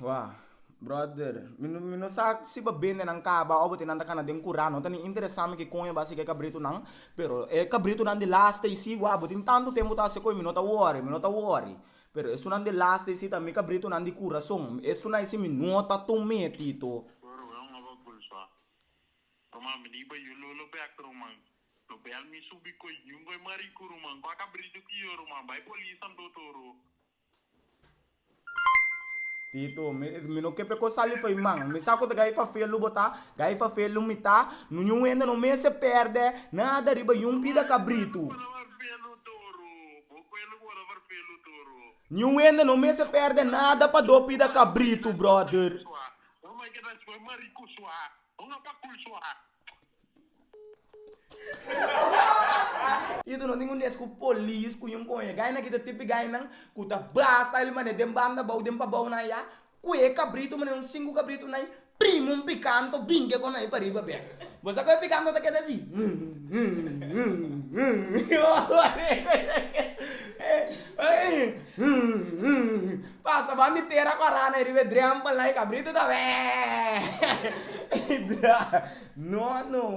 Wah brother mi no mi no sa si bo bende nan kaba of bo tin nan ta kana den kura no ta ni interesa mi kikon e basi k'e kabritu nan pero e kabritu nan di lasta i si wah bo tin tantu tempu ta hasi koi mi no ta wori mi no ta wori pero esunnan di lasta i si ta mi kabritu nan di kurason esunan i si mi no ta tun meti to Tito, mi, mi no ke pe kos sali fei man. Mi sa ku ta gai fafia lu bo ta, gai fafia lu mi ta. No yu wenda no mes e pèrdè nada riba yun pida kabritu. Yu wenda no mes e pèrdè nada pa do pida kabritu, bròder. Ito no tin un des ku polis ku yunko e gai nan kita tipi gai nan ku ta basa el mane den banda bou den pa bou nan ya kue kabritu mane un sinku kabritu nai primi un pikanto binke kon nai pariba bek bo sa kue pikanto ta keda si Pasa ban di tera ku a rana e riba e drempel na e kabritu ta bee! Ei dra. No no.